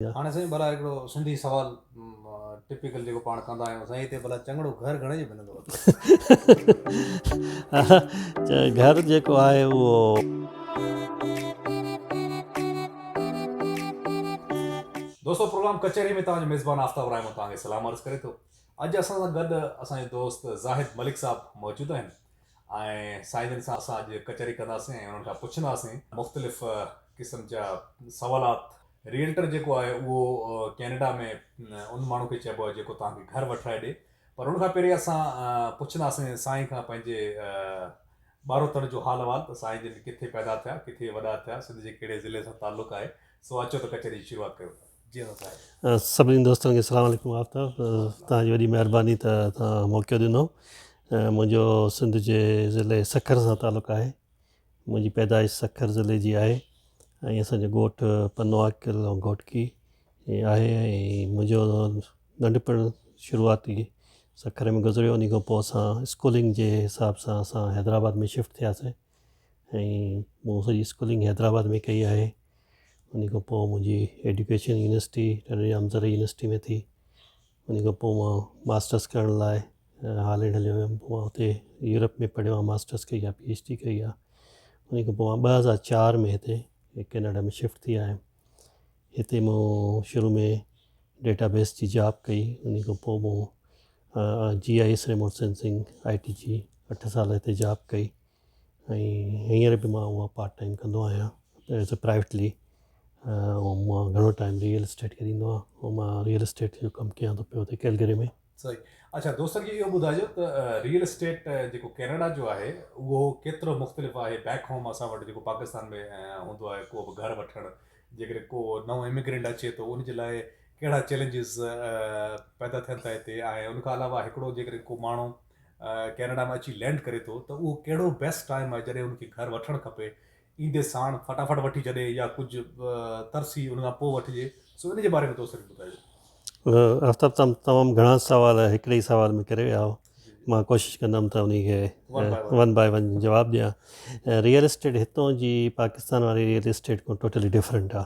هاڻي سائين ڀلا هڪڙو سنڌي سوال ٽپيڪل جيڪو پاڻ ڪندا آهيون سائين هتي ڀلا چڱڙو گهر گهڻي جو ملندو اٿئي گهر جيڪو آهي اهو دوستو پروگرام ڪچهري ۾ توهان جو ميزبان آفتاب رحمان توهان کي سلام عرض ڪري ٿو اڄ اسان سان گڏ اسان جو دوست زاهد ملڪ صاحب موجود آهن ۽ سائين جن سان اسان اڄ ڪچهري ڪنداسين ۽ انهن کان پڇنداسين مختلف قسم جا سوالات ريئلٽر جيڪو آهي اهو ڪينيڊا ۾ ان ماڻهو کي چئبو آهي جيڪو توهان کي گهر وٺرائي ڏي پر ان کان پهرين اسان پڇنداسين سائين کان پنهنجي ٻاروتڻ جو حال احوال ته سائين جن ڪٿي پيدا ٿيا ڪٿي وڏا ٿيا سنڌ جي ڪهڙي ضلعي سان تعلق آهي سو اچو ته ڪچهري جي شروعات ڪيون ٿا جي اسان سائين سڀني دوستن کي السلام عليڪم آفتاب تان جي وڏي مهرباني ته تان موقعو ڏنو منهنجو سنڌ جي ضلعي سکر سان تعلق آهي منهنجي پيدائش سکر ضلعي جي آهي ۽ اسان جو ڳوٺ پنو عاقل ۽ گهوٽڪي آهي ۽ منهنجو ننڍپڻ شروعاتي سکر ۾ گذريو انهي کان پوء اسان اسڪولنگ جي حساب سان اسان حيدرآباد ۾ شفٽ ٿياسين ۽ مون سڄي اسڪولنگ حيدرآباد ۾ ڪئي آهي انهي کان پوء منهنجي ايڊيوڪيشن يونيورسٽي ٽنڊو ڄام زرعي يونيورسٽي ۾ ٿي ان کان پوء مان ماسٽرس ڪرڻ لاء هالينڊ هليو ويم پوء مان هتي يورپ ۾ پڙهيو آهي ماسٽرس ڪئي آهي پي ايڇ ڊي ڪئي آهي ان کان پوء مان ٻه هزار چار ۾ هتي ڪينيڊا ۾ شفٽ ٿي آيم هتي مون شروع ۾ ڊيٽا بيس جي جاب ڪئي ان کان پوء مون G I S remote sensing I T جي اٺ سال هتي جاب ڪئي ۽ هينئر به مان اها پارٽ ٽائيم ڪندو آهيان ايز اي پرائيوٽلي ۽ مان گهڻو ٽائيم ريئل اسٽيٽ کي ڏيندو آهيان ۽ مان ريئل اسٽيٽ جو ڪم ڪيان ٿو پيو هتي ڪيلگري ۾ صحيح اڇا دوست کي اهو ٻڌائجو ته ريئل اسٽيٽ جيڪو ڪينيڊا جو آهي اهو ڪيترو مختلف آهي بيڪ هوم اسان وٽ جيڪو پاڪستان ۾ هوندو آهي ڪو به گهر وٺڻ جيڪڏهن ڪو نئون اميگرينٽ اچي ٿو ان جي لاء ڪهڙا چيلنجز پيدا ٿين ٿا هتي ۽ ان کان علاوه هڪڙو جيڪڏهن ڪو ماڻهو ڪينيڊا ۾ اچي لينڊ ڪري ٿو ته اهو ڪهڙو بيسٽ ٽائيم آهي جڏهن ان کي گهر وٺڻ کپي ايندي ساڻ فٽافٽ وٺي ڇڏي يا ڪجهه ترسي ان کان پوء وٺجي سو ان جي باري ۾ تو سر ٻڌايو آفتاب تم تمام گھڻا سوال هڪڙي ئي سوال ۾ ڪري ويا آهو مان ڪوشش ڪندم ته انهي کي ون باء ون جواب ڏيان ريئل اسٽيٽ هتون جي پاڪستان واري ريئل اسٽيٽ کان ٽوٽلي ڊفرنٽ آهي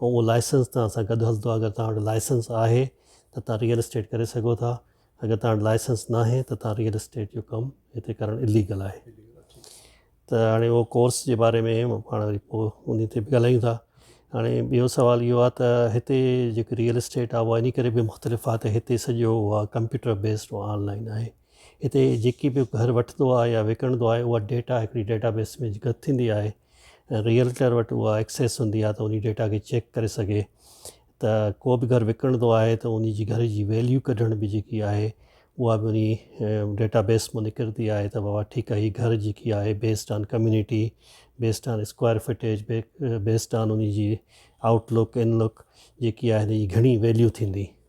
۽ اهو لائسنس توهان سان گڏ هلندو اگر توهان وٽ لائسنس آهي ته توهان ريئل اسٽيٽ ڪري سگهو ٿا اگر توهان وٽ لائسنس ناهي ته توهان ريئل اسٽيٽ جو ڪم هتي ڪرڻ اليگل آهي ته هاڻي اهو ڪورس جي باري ۾ پاڻ وري پوء ان تي به ڳالهايون ٿا هاڻي ٻيو سوال اهو آهي ته هتي جيڪي ريئل اسٽيٽ آهي اها ان ڪري به مختلف آهي ته هتي سڄو اها ڪمپيوٽر بيسڊ آن لائن آهي هتي جيڪي به گهر وٺندو آهي يا وڪڻندو آهي اها ڊيٽا هڪڙي ڊيٽا بيس ۾ گڏ ٿيندي آهي ريئلٽر وٽ اها ايڪسيس هوندي آهي ته انهي ڊيٽا کي چيڪ ڪري سگهي ته ڪو به گهر وڪڻندو آهي ته انهي جي گهر جي ويليو ڪڍڻ به جيڪي آهي اها به انهي ڊيٽا بيس مان نڪرندي آهي ته بابا ٺيڪ آهي هي گهر جيڪي آهي based on community based on square footage based on انهي جي آئوٽ لڪ ان لڪ جيڪي آهي انهي جي گهڻي ويليو ٿيندي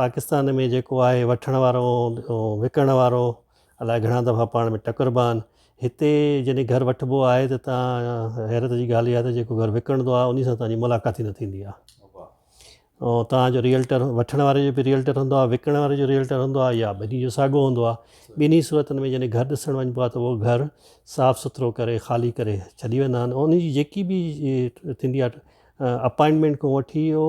پاڪستان ۾ جيڪو آهي وٺڻ وارو ۽ وڪڻڻ وارو الاء گهڻا دفعا پاڻ ۾ ٽڪربا آهن. هتي جڏهن گهر وٺبو آهي ته تان حيرت جي ڳالهه اها آهي ته جيڪو گهر وڪڻندو آهي انهي سان تان جي ملاقات ئي نه ٿيندي آهي. ۽ تان جو ريئلٽر وٺڻ واري جو به ريئلٽر هوندو آهي وڪڻڻ واري جو ريئلٽر هوندو آهي يا ٻنهي جو ساڳو هوندو آهي. ٻنهي صورتن ۾ جڏهن گهر ڏسڻ وڃبو آهي ته اهو گهر صاف سٿرو ڪري خالي ڪري ڇڏي ويندا آهن ۽ انهي جي جيڪي به ٿيندي آهي اپائنٽمينٽ کان وٺي او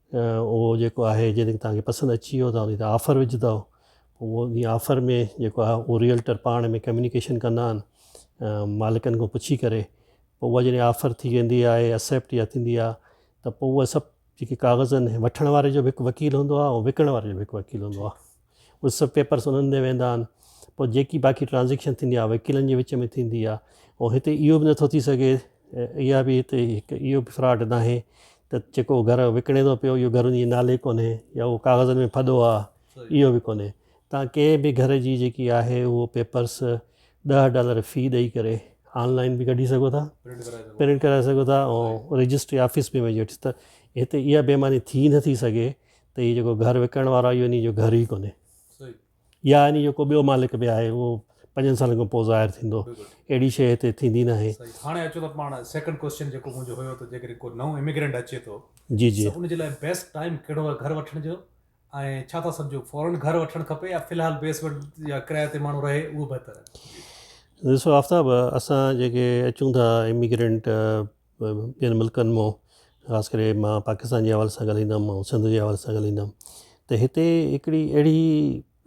اهو جيڪو آهي جيڪڏهن توهان کي پسند اچي ويو توهان ان تي آفر وجهندؤ پوء ان آفر ۾ جيڪو آهي اهو ريئلٽر پاڻ ۾ ڪميونيڪيشن ڪندا آهن مالڪن کان پڇي ڪري پوء اها جڏهن آفر ٿي ويندي آهي اسيپٽ يا ٿيندي آهي ته پوء اهي سڀ جيڪي ڪاغذ آهن وٺڻ واري جو به هڪ وڪيل هوندو آهي ۽ وڪڻڻ واري جو به هڪ وڪيل هوندو آهي اهي سڀ پيپرس انهن ڏي ويندا آهن پوء جيڪي باقي ٽرانزيڪشن ٿيندي آهي وڪيلن جي وچ ۾ ٿيندي آهي ۽ هتي اهو به نٿو ٿي سگهي اها به هتي هڪ اهو به فراڊ ناهي ته جيڪو گهر وڪڻي ٿو پيو اهو گهر ان جي نالي ڪونهي يا اهو ڪاغذن ۾ ڦڏو آهي اهو به ڪونهي تان ڪنهن به گهر جي جيڪي آهي اهو پيپرس ڏهه ڊالر في ڏئي ڪري آنلائن به ڪڍي سگهو ٿا پرنٽ ڪرائي سگهو ٿا ۽ رجسٽري آفيس ۾ وڃي وٺ ته هتي اها بيماني ٿي نٿي سگهي ته هي جيڪو گهر وڪڻڻ وارو آهي اهو انهي جو گهر ئي ڪونهي يا انهي جو ڪو ٻيو مالڪ به آهي اهو پنجن سالن کان پوء ظاهر ٿيندو اهڙي شيء هتي ٿيندي ناهي. هاڻي اچو ته پاڻ سيڪنڊ ڪوئسچن جيڪو منهنجو هيو ته جيڪڏهن ڪو نئون اميگرينٽ اچي ٿو جي جي ان جي لاء بيسٽ ٽائيم ڪهڙو آهي گهر وٺڻ جو ۽ ڇا ٿا سمجهو فورن گهر وٺڻ کپي يا في الحال بيسمينٽ يا ڪرايي تي ماڻهو رهي اهو بهتر آهي ڏسو آفتاب اسان جيڪي اچون ٿا اميگرينٽ ٻين ملڪن مون خاص ڪري مان پاڪستان جي حوالي سان ڳالهائيندم مان سنڌ جي حوالي سان ڳالهائيندم ته هتي هڪڙي اهڙي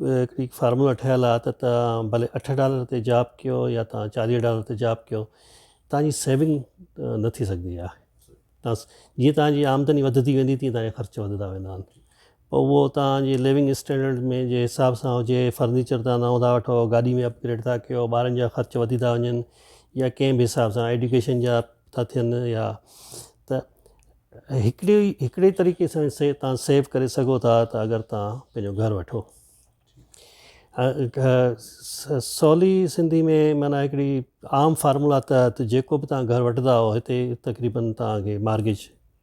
هڪڙي فارمولا ٺهيل آهي ته تان ڀلي اٺ ڊالر تي جاب ڪيو يا تان چاليهه ڊالر تي جاب ڪيو تان جي سيونگ نه ٿي سگهندي آهي تان جيئن تان جي آمدني وڌندي ويندي تيئن تان جا خرچ وڌندا ويندا آهن پوء اهو توهان جي ليونگ اسٽينڊرڊ ۾ جي حساب سان هجي، فرنيچر توهان نئون ٿا وٺو، گاڏي ۾ اپ گريڊ ٿا ڪيو، ٻارن جا خرچ وڌي ٿا وڃن يا ڪنهن به حساب سان ايڊيوڪيشن جا ٿا ٿين يا ته هڪڙي هڪڙي طريقي سان سي توهان سيو ڪري سگهو ٿا ته اگر توهان پنهنجو گهر وٺو. سولي سنڌي ۾ معنيٰ هڪڙي عام فارمولا تحت جيڪو به توهان گهر وٺندا هتي تقريبن توهان کي مارگيج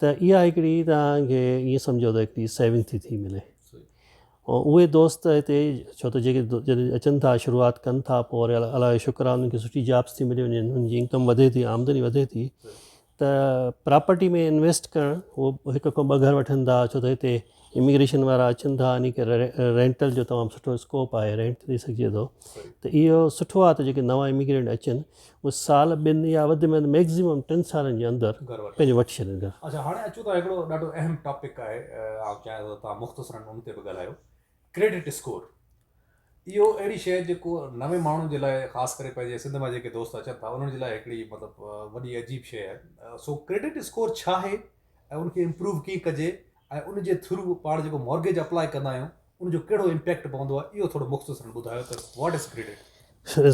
ته اها هڪڙي توهان کي ائين سمجهو ته هڪڙي سيونگ ٿي ٿي ملي ۽ اهي دوست هتي ڇو ته جيڪي جڏهن اچن ٿا شروعات ڪن ٿا پوء وري الله جو شڪر آهي انهن کي سٺي جابس ٿي ملي وڃن انهن جي انڪم وڌي ٿي آمدني وڌي ٿي ته پراپرٽي ۾ انويسٽ ڪرڻ هو هڪ کان ٻه گهر وٺن ٿا ڇو ته هتي اميگريشن وارا اچن ٿا اني ڪري رينٽل جو تمام سٺو اسڪوپ آهي رينٽ تي ڏئي سگهجي ٿو ته اهو سٺو آهي ته جيڪي نوان اميگرينٽ اچن اهي سال ٻن يا وڌ ۾ وڌ ميڪزيمم ٽن سالن جي اندر پنهنجو وٺي ڇڏن گهر اچا هاڻي اچو ته هڪڙو ڏاڍو اهم ٽاپڪ آهي آئون چاهيان ٿو تها مختصرا ان تي به ڳالهايو ڪريڊٽ اسڪور اهو اهڙي شيء جيڪو نوين ماڻهو جي لاء خاص ڪري پنهنجي سنڌ مان جيڪي دوست اچن ٿا انهن جي لاء هڪڙي مطلب وڏي عجيب شيء آهي سو ڪريڊٽ اسڪور ڇا آهي ۽ ان کي امپروو ڪيئن ڪجي ۽ ان جي ٿرو پاڻ جيڪو مارگيج اپلاء ڪندا آهيون ان جو ڪهڙو امپيڪٽ پوندو آهي اهو ٿورو مختصرن ٻڌايو ته واٽ از ڪريڊٽ؟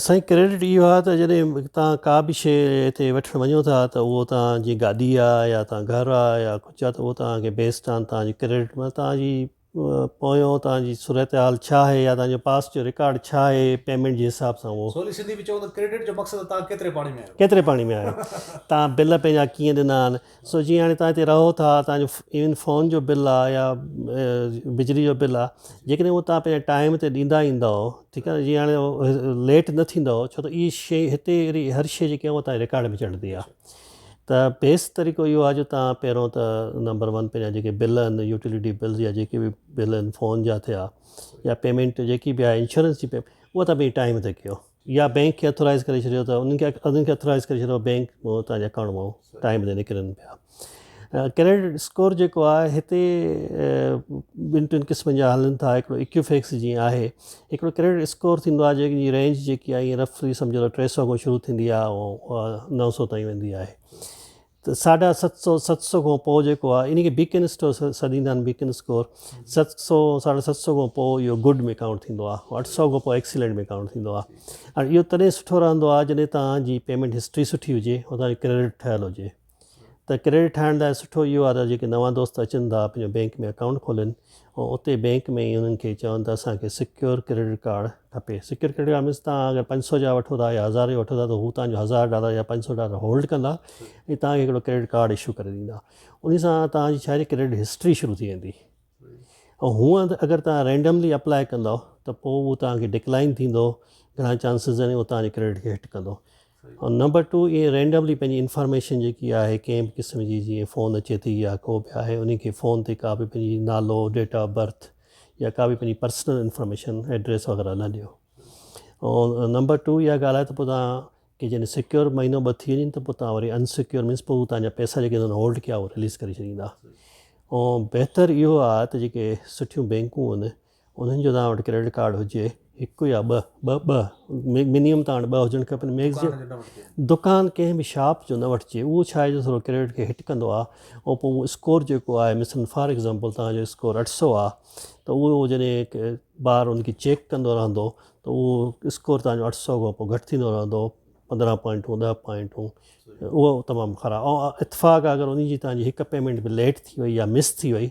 سائين ڪريڊٽ اهو آهي ته جڏهن توهان ڪا به شيء هتي وٺڻ وڃو ٿا ته اهو توهان جي گاڏي آهي يا توهان گهر آهي يا ڪجهه آهي ته اهو توهان کي بيسڊ آن توهان جي ڪريڊٽ مطلب توهان جي پويون توهان جي صورتحال ڇا آهي يا توهان جو پاسٽ جو رڪارڊ ڇا آهي پيمينٽ جي حساب سان اهو. سولي سنڌي ۾ چئون ته ڪريڊٽ جو مقصد توهان ڪيتري پاڻي ۾ آهيو. ڪيتري پاڻي ۾ آهيو توهان بل پنهنجا ڪيئن ڏنا آهن سو جيئن هاڻي توهان هتي رهو ٿا توهان جو ايون فون جو بل آهي يا بجلي جو بل آهي جيڪڏهن هو توهان پنهنجا ٽائيم تي ڏيندا ايندا ٺيڪ آهي جيئن هاڻي ليٽ نه ٿيندا ڇو ته اهي شي هتي اهڙي هر شي جيڪي هو توهان جي رڪارڊ ۾ چڙهندي آهي. ته بيسڪ طريقو اهو آهي جو تهان پهريون ته نمبر ون پنهنجا جيڪي بل آهن يوٽيلٽي بلز يا جيڪي به بل آهن فون جا ٿيا يا پيمنٽ جيڪي به آهي انشورنس جي پيمنٽ اها تهان پنهنجي ٽائيم تي ڪيو يا بينڪ کي اٿورائز ڪري ڇڏيو ته انهن کي اٿورائز ڪري ڇڏيو بينڪ تهان جا اڪائونٽ مئو ٽائيم تي نڪرن پيا ڪريڊٽ اسڪور جيڪو آهي هتي ٻن ٽن قسمن جا هلن ٿا هڪڙو اڪيوفيڪس جيئن آهي هڪڙو ڪريڊٽ اسڪور ٿيندو آهي جنهن جي رينج جيڪي آهي ائين رفلي سمجهو ته ٽي سؤ کان شروع ٿيندي آهي ۽ نو سؤ تائين ويندي آهي ته ساڍا ست سؤ ست سؤ کان پوء جيڪو آهي ان کي بيڪن اسٽور سڏيندا آهن بيڪن اسڪور ست سؤ ساڍا ست سؤ کان پوء اهو گڊ ۾ ڪائونٽ ٿيندو آهي اٺ سؤ کان پوء ايڪسيلنٽ ۾ ڪائونٽ ٿيندو آهي ۽ اهو تڏهن سٺو رهندو آهي جڏهن تهان جي پيمنٽ هسٽري سٺي هجي ۽ تهان جو ڪريڊٽ ٺهيل هجي ته ڪريڊٽ ٺاهڻ لاء سٺو اهو آهي ته جيڪي نوان دوست اچن ٿا پنهنجو بينڪ ۾ اڪائونٽ کولين ۽ اتي بينڪ ۾ ئي انهن کي چون ته اسان کي سڪيور ڪريڊٽ ڪارڊ کپي سڪيور ڪريڊٽ ڪارڊ مينس تهان اگر پنج سؤ جا وٺو ٿا يا هزار جا وٺو ٿا ته هو تهان جو هزار ڊالر يا پنج سؤ ڊالر هولڊ ڪندا ۽ تهان کي هڪڙو ڪريڊٽ ڪارڊ اشو ڪري ڏيندا ان سان تهان جي ڇاهي ڪريڊٽ هسٽري شروع ٿي ويندي ۽ هونئن ته اگر تهان رينڊملي اپلائي ڪندو ته پوء اهو تهان کي ڊڪلائن ٿيندو گهڻا چانسز آهن اهو تهان جي ڪريڊٽ کي هٽ ڪندو نمبر ٽو ائين رينڊملي پنهنجي انفارميشن جيڪي آهي ڪنهن به قسم جي جيئن فون اچي ٿي يا ڪو به آهي انهي کي فون تي ڪا به پنهنجي نالو ڊيٽ آف برٿ يا ڪا به پنهنجي پرسنل انفارميشن ايڊريس وغيره نه ڏيو ۽ نمبر ٽو اها ڳالهه آهي ته پوء تان کي جڏهن سيڪيور مهينو ٻه ٿي وڃن ته پوء تان وري انسيڪيور مينس پوء تان جا پيسا جيڪي تان هولڊ ڪيا اهو رليز ڪري ڇڏيندا ۽ بهتر اهو آهي ته جيڪي سٺيون بينڪون آهن انهن جو توهان وٽ ڪريڊٽ ڪارڊ هجي هڪ يا ٻه ٻه ٻه منيم توهان وٽ ٻه هجڻ کپن ميگزين دڪان ڪنهن به شاپ جو نه وٺجي اهو ڇا آهي جو ٿورو ڪريڊٽ کي هٽ ڪندو آهي ۽ پوء اسڪور جيڪو آهي مثلا فار ايگزامپل توهان جو اسڪور اٺ سو آهي ته اهو جڏهن بار ان کي چيڪ ڪندو رهندو ته اهو اسڪور توهان جو اٺ سو کان پوء گهٽ ٿيندو رهندو پندرهن پوائنٽون ڏهه پوائنٽون اهو تمام خراب اتفاق اگر ان جي توهان جي هڪ پيمنٽ به ليٽ ٿي وئي يا مس ٿي وئي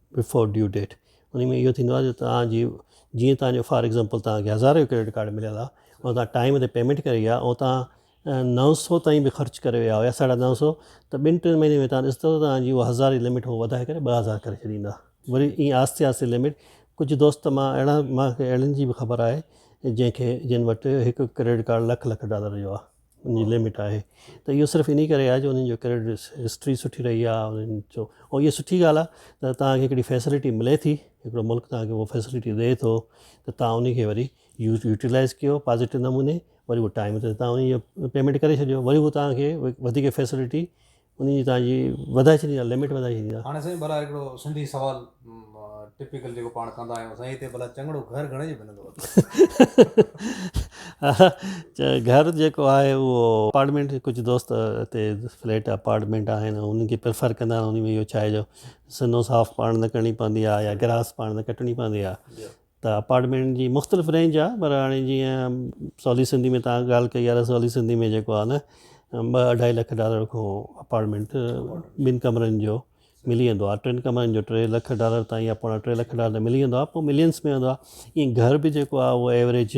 بفور ڊيو ڊيٽ انهي ۾ اهو ٿيندو آهي جو توهان جي جيئن توهان جو فار ايگزامپل توهان کي هزار جو ڪريڊٽ ڪارڊ مليل آهي ۽ توهان ٽائيم تي پيمينٽ ڪري آهي ۽ توهان نو سو تائين به خرچ ڪري ويا هيا ساڍا نو سو ته ٻن ٽن مهينن ۾ توهان ڏسندو توهان جي اها هزار جي لمٽ هو وڌائي ڪري ٻه هزار ڪري ڇڏيندا وري ائين آهستي آهستي لمٽ ڪجهه دوست مان اهڙا مان کي اهڙن جي به خبر آهي جنهن کي جن وٽ هڪ credit card lakh lakh dollar جو آهي ان جي لمٽ آهي ته اهو صرف انهي ڪري آهي جو انهن جو ڪريڊٽ هسٽري سٺي رهي آهي انهن جو ۽ اهي سٺي ڳالهه آهي ته توهان کي هڪڙي فيسلٽي ملي ٿي هڪڙو ملڪ توهان کي هو فيسلٽي ڏئي ٿو ته توهان انهي کي وري يوز يوٽيلائز ڪيو پازيٽو نموني وري هو ٽائيم تي توهان انهي جو پيمينٽ ڪري ڇڏيو وري هو توهان کي وڌيڪ فيسلٽي انهي جي توهان جي وڌائي ڇڏي آ لمٽ وڌائي ڇڏي آ. هاڻي سائين ڀلا هڪڙو سنڌي سوال ٽپيڪل جيڪو پاڻ ڪندا آهيون سائين هتي ڀلا چڱڙو گهر گهڻي جو ملندو اٿو. گهر جيڪو آهي اهو اپارٽمينٽ ڪجهه دوست هتي فليٽ اپارٽمينٽ آهن انهن کي پريفر ڪندا آهن انهي ۾ اهو ڇا آهي جو سنو صاف پاڻ نه ڪرڻي پوندي آهي يا گراس پاڻ نه ڪٽڻي پوندي آهي ته اپارٽمينٽ جي مختلف رينج آ پر هاڻي جيئن سولي سنڌي ۾ تهان ڳالهه ڪئي آ ته سولي سنڌي ۾ جيڪو آ نه ٻه اڍائي لک ڊالر کان اپارٽمينٽ ٻن ڪمرن جو ملي ويندو آ ٽن ڪمرن جو ٽي لک ڊالر تائين يا پوڻا ٽي لک ڊالر ملي ويندو آ پوء ملينس ۾ ويندو آ ائين گهر به جيڪو آ اهو ايوريج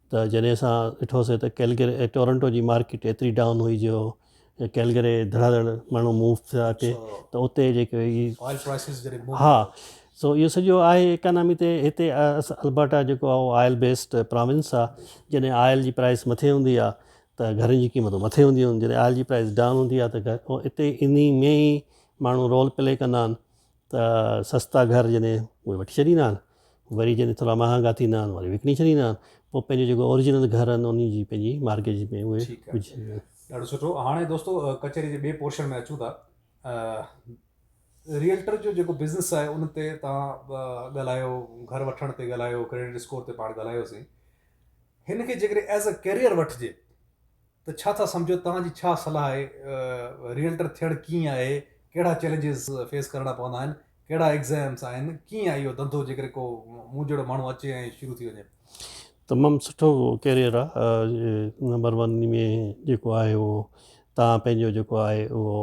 ته جڏهن اسان ڏٺوسين ته ڪيلگري ۽ ٽورنٽو جي مارڪيٽ ايتري ڊائون هئي جو ڪيلگري ڌڙا ڌڙ ماڻهو موو ٿيا اچي ته اتي جيڪي هي ها سو اهو سڄو آهي اڪانامي تي هتي البرٽا جيڪو آهي آئل بيسڊ پراونس آهي جڏهن آئل جي پرائس مٿي هوندي آهي ته گهرن جي قيمتون مٿي هونديون آهن جڏهن آئل جي پرائس ڊائون هوندي آهي ته هتي انهي ۾ ئي ماڻهو رول پلي ڪندا آهن ته سستا گهر جڏهن اهي وٺي ڇڏيندا آهن وري جڏهن ٿورا مهانگا ٿيندا آهن وري وڪڻي ڇڏيندا آهن پوء پنهنجو جيڪو اورجنل گهر آهن انهن جي پنهنجي مارگيج ۾ اهي وجهندا آهن. ڏاڍو سٺو هاڻي دوستو ڪچهري جي ٻئي پورشن ۾ اچون ٿا ريئلٽر جو جيڪو بزنس آهي ان تي تان ڳالهايو گهر وٺڻ تي ڳالهايو ڪريڊٽ اسڪور تي پاڻ ڳالهايوسين هن کي جيڪڏهن ايز اي ڪيريئر وٺجي ته ڇا ٿا سمجهو توهان جي ڇا صلاح آهي ريئلٽر ٿيڻ ڪيئن آهي ڪهڙا چئلينجز فيس ڪرڻا پوندا آهن ڪهڙا ايگزامس آهن ڪيئن آهي اهو ڌنڌو جيڪڏهن ڪو مون جهڙو ماڻهو اچي ۽ شروع ٿي وڃي تمام سٺو ڪيريئر آهي نمبر ون ۾ جيڪو آهي اهو تان پنهنجو جيڪو آهي اهو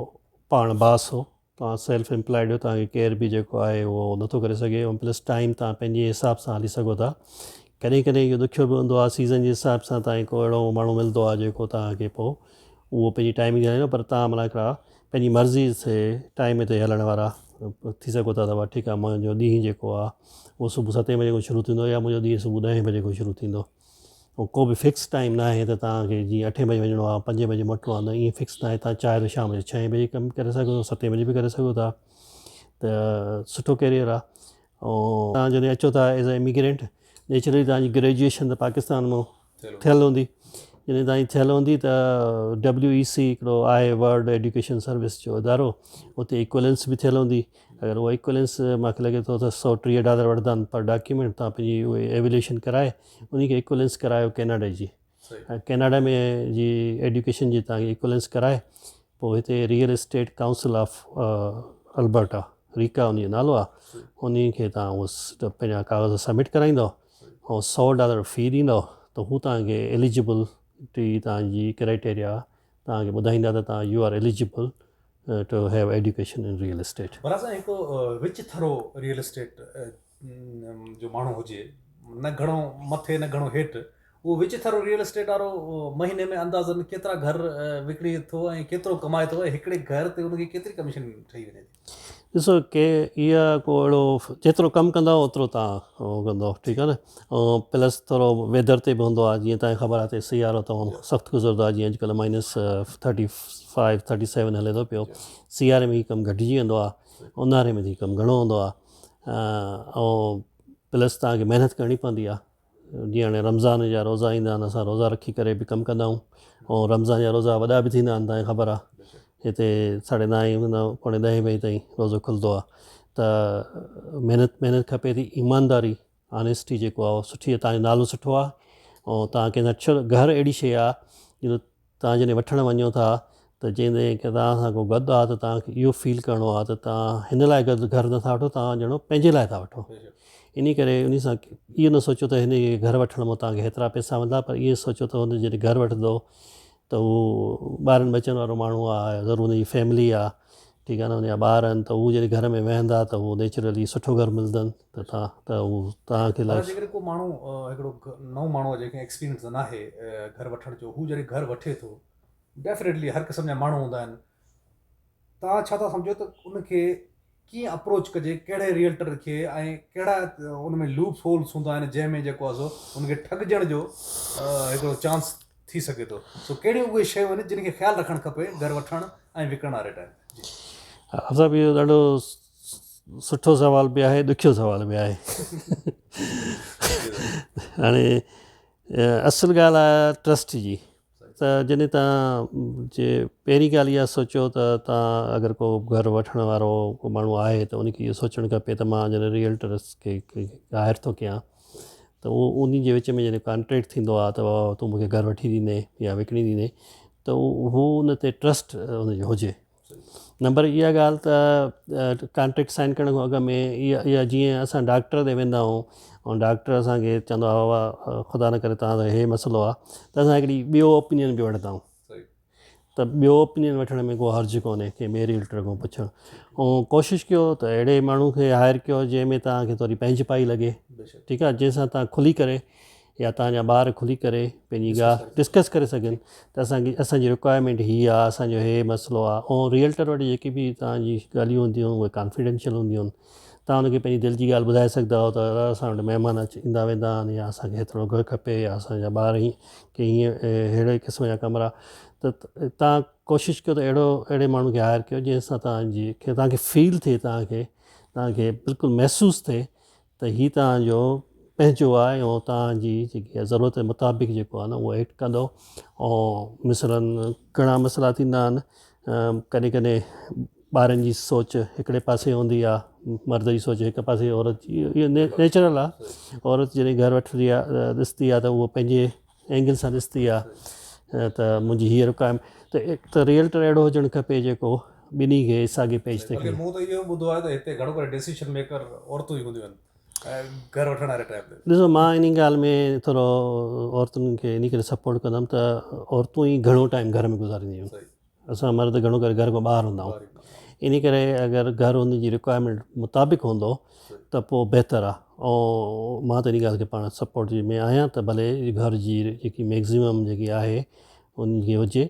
پاڻ باس هو توهان سيلف امپلائيڊ آهيو توهان کي ڪير به جيڪو آهي اهو نٿو ڪري سگهي ۽ پلس ٽائيم توهان پنهنجي حساب سان هلي سگهو ٿا ڪڏهن ڪڏهن اهو ڏکيو به هوندو آهي سيزن جي حساب سان توهان کي ڪو اهڙو ماڻهو ملندو آهي جيڪو توهان کي پوء اهو پنهنجي ٽائيمنگ تي هلائيندو پر توهان معنيٰ هڪڙا پنهنجي مرضي سي ٽائيم تي هلڻ وارا ٿي سگهو ٿا ته وا ٺيڪ آهي منهنجو ڏينهن جيڪو آهي اهو صبح ستين بجي کان شروع ٿيندو يا منهنجو ڏينهن صبح ڏهين بجي کان شروع ٿيندو ۽ ڪو به فڪس ٽائيم نه آهي ته توهان کي جيئن اٺين بجي وڃڻو آهي پنجين بجي موٽڻو آهي ته ايئن فڪس ناهي توهان چاهيو ته شام جو ڇهين بجي ڪم ڪري سگهو ٿا ستين بجي به ڪري سگهو ٿا ته سٺو ڪيريئر آهي ۽ توهان جڏهن اچو ٿا ايز اي اميگرينٽ نيچرلي توهان جي گريجوئيشن ته پاڪستان مان ٿيل هوندي جڏهن توهان جي ٿيل هوندي ته ڊبليو اي سي هڪڙو آهي ورلڊ ايڊيوڪيشن سروس جو ادارو اتي اڪويلنس به ٿيل هوندي اگر اهو ايڪوئلنس مان کي لڳي ٿو ته سؤ ٽيهه ڊالر وٺندا آهن پر ڊاڪيومينٽ تان پنهنجي اهي ايويليشن ڪرائي انهي کي ايڪوئلنس ڪرايو ڪيناڊا جي ۽ ڪيناڊا ۾ جي ايڊيوڪيشن جي تان کي ايڪوئلنس ڪرائي پوء هتي real estate council of Alberta RECA انهي جو نالو آهي انهي کي تان اهو پنهنجا ڪاغذ سبمٽ ڪرائيندو ۽ سؤ ڊالر في ڏيندو ته هو تان کي ايليجبل ٽي تان جي ڪرائيٽيريا تان کي ٻڌائيندا ته تان you are eligible to have education in real estate. برا سائين هڪ رچ ٿرو ريئل اسٽيٽ جو ماڻهو هجي نه گهڻو مٿي نه گهڻو هيٺ اهو وچ ٿرو ريئل اسٽيٽ وارو مهيني ۾ اندازن ڪيترا گهر وڪڻي ٿو ۽ ڪيترو ڪمائي ٿو ۽ هڪڙي گهر تي ان کي ڪيتري ڪميشن ٺهي وڃي ٿي. ڏسو ڪي اها ڪو اهڙو جيترو ڪم ڪندا اوترو تان ٺيڪ آهي نه. پلس ٿورو ويدر تي به هوندو آهي جيئن توهان کي خبر آهي هتي سيارو تمام سخت گذرندو آهي جيئن اڄڪلهه minus thirty five thirty seven هلي ٿو پيو سياري ۾ هي ڪم گهٽجي ويندو آهي اونهاري ۾ هي ڪم گهڻو هوندو آهي ۽ پلس توهان کي محنت ڪرڻي پوندي آهي جيئن هاڻي رمضان جا روزا ايندا آهن اسان روزا رکي ڪري به ڪم ڪندا آهيون ۽ رمضان جا روزا وڏا به ٿيندا آهن توهان کي خبر آهي هتي ساڙهي نائين کان پوڻي ڏهين بجي تائين روزو کلندو آهي ته محنت محنت کپي ٿي ايمانداري آنيسٽي جيڪو آ اهو سٺي آ تنهنجو نالو سٺو آ ۽ تنهن کي نڇر گهر اهڙي شئي آ جو تنهن جڏهن وٺڻ وڃو ٿا ته جيئن ڪي تنهن سان ڪو گڏ آ ته تنهن کي اهو فيل ڪرڻو آ ته تنهن هن لاء گڏ گهر نٿا وٺو تنهن ڄڻو پنهنجي لاء ٿا وٺو انهي ڪري انهي سان اهو نه سوچو ته هن کي گهر وٺڻ ۾ تنهن کي هيترا پئسا ملندا پر اهي سوچو ته هن جڏهن گهر وٺندو ته هو ٻارن ٻچن وارو ماڻهو آ يا ضرور ان جي فيملي آ ٺيڪ آ نه ان جا ٻار آهن ته هو جڏهن گهر ۾ ويهندا ته هو نيچرلي سٺو گهر ملندن ته تان ته هو تان کي پر جيڪڏهن ڪو ماڻهو هڪڙو نئون ماڻهو آ جنهن کي ايڪسپيرينس ناهي گهر وٺڻ جو هو جڏهن گهر وٺي ٿو ڊيفنيٽلي هر قسم جا ماڻهو هوندا آهن. توهان ڇا ٿا سمجهو ته ان کي ڪيئن اپروچ ڪجي ڪهڙي ريئلٽر کي ۽ ڪهڙا ان ۾ لوپ هولس هوندا آهن جنهن ۾ جيڪو آهي سو ان کي ٺڳجڻ جو هڪڙو چانس ٿي سگهي ٿو سو ڪهڙيون اهي شيون آهن جن کي خيال رکڻ کپي گهر وٺڻ ۽ وڪڻڻ واري ٽائيم جي صاحب اهو ڏاڍو سٺو سوال به آهي ڏکيو سوال به آهي هاڻي اصل ڳالهه آهي ٽرسٽ جي ته جڏهن توهان جي پهرين ڳالهه اها سوچيو ته توهان اگر ڪو گهر وٺڻ وارو ڪو ماڻهو آهي ته ان کي اهو سوچڻ کپي ته مان جڏهن ريئلٽرس کي هائر ٿو ڪيان ته اهو انهن جي وچ ۾ جڏهن ڪانٽريڪٽ ٿيندو آهي ته بابا تون مون کي گهر وٺي ڏيندين يا وڪڻي ڏيندين ته اهو ان تي ٽرسٽ ان جو هجي نمبر اها ڳالهه ته ڪانٽريڪٽ سائن ڪرڻ کان اڳ ۾ اها جيئن اسان ڊاڪٽر ڏي ويندا آهيون ۽ ڊاڪٽر اسان کي چوندو آهي بابا خدا نه ڪري تنهنجو اهي مسئلو آهي ته اسان هڪڙي ٻيو اوپينين به وٺندا آهيون ته ٻيو اوپينين وٺڻ ۾ کو حرج ڪونهي ڪنهن ٻئي ريئلٽر کان پڇڻ ۽ ڪوشش ڪيو ته اهڙي ماڻهو کي هائر ڪيو جنهن ۾ تنهنکي ٿوري پنهنجي پائي لڳي ٺيڪ آهي جنهن سان تنهن کلي ڪري يا تهان جا ٻار کلي ڪري پنهنجي گاهه ڊسڪس ڪري سگهن ته اسان کي اسان جي رڪوائرمينٽ هي آ اسان جو هي مسئلو آ ۽ ريئلٽر وٽ جيڪي به تهان جي ڳالهيون هونديون اهي ڪانفيڊينشل هونديون آهن تهان ان کي پنهنجي دل جي ڳالهه ٻڌائي سگهندا آهيو ته دادا اسان وٽ مهمان اچي ايندا ويندا آهن يا اسان کي هيترو گهر کپي يا اسان جا ٻار هي ڪي هيئن اهڙي قسم جا ڪمرا ته تهان ڪوشش ڪيو ته اهڙو اهڙي ماڻهو کي هائر ڪيو جنهن سان تهان جي تهان کي فيل ٿئي تهان کي تهان کي بلڪل محسوس ٿئي ته هي توهان جو پنهنجو آهي ۽ توهان جي جيڪي ضرورت مطابق جيڪو آهي نه اهو ايڊ ڪندو ۽ مثلاً گهڻا مسئلا ٿيندا آهن ڪڏهن ڪڏهن ٻارن جي سوچ هڪڙي پاسي هوندي آهي مرد جي سوچ هڪ پاسي عورت جي نيچرل آهي عورت جڏهن گهر وٺندي آهي ڏسندي آهي ته هو پنهنجي اينگل سان ڏستي آ ته منهنجي هيء رڪائم ته هڪ ته ريئلٽر اهڙو هجڻ کپي جيڪو ٻنهي کي ساڳي پيج تي کڻي. مون ته اهو ٻڌو آهي ته هتي گهڻو ڪري ڊيسيشن ميڪر عورتون ئي هونديون آهن گهر وٺڻ واري ٽائيپ تي. ڏسو مان انهي ڳالهه ۾ ٿورو عورتن کي انهي ڪري سپورٽ ڪندم ته عورتون ئي گهڻو ٽائيم گهر ۾ گذارينديون آهن. اسان مرد گهڻو ڪري گهر کان ٻاهر هوندا آهيون انهي ڪري اگر گهر ان جي رڪوائرمينٽ مطابق هوندو ته پوء بهتر آهي ۽ مان ته انهي ڳالهه کي پاڻ سپورٽ ۾ آهيان ته ڀلي گهر جي جيڪي ميڪزيمم جيڪي آهي ان جي هجي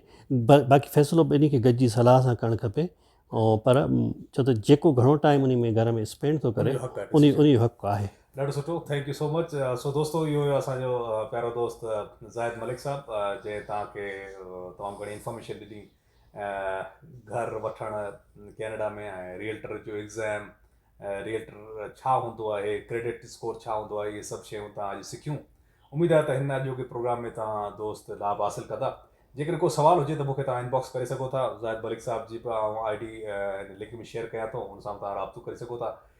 باقي فيصلو ٻنهي کي گڏجي صلاح سان ڪرڻ کپي ۽ پر ڇو ته جيڪو گهڻو ٽائيم انهي ۾ گهر ۾ اسپينڊ ٿو ڪري انهي جو حق آهي ڏاڍو سٺو ٿينڪ يو سو مچ سو دوستو اهو هيو اسان جو پيارو دوست زاهد ملڪ صاحب جنهن توهان کي تمام گهڻي انفارميشن ڏني گهر وٺڻ ڪينيڊا ۾ ۽ ريئلٽر جو ايگزام ريئلٽر ڇا هوندو آهي ڪريڊٽ اسڪور ڇا هوندو آهي اهي سڀ شيون تان اڄ سکيون اميد آهي ته هن اڄوڪي پروگرام ۾ توهان دوست لابھ حاصل ڪندا جيڪڏهن ڪو سوال هجي ته مونکي توهان انباڪس ڪري سگهو ٿا زاهد ملڪ صاحب جي به آئون آئي ڊي هن لنڪ ۾ شيئر ڪيان ٿو ان سان توهان رابطو ڪري سگهو ٿا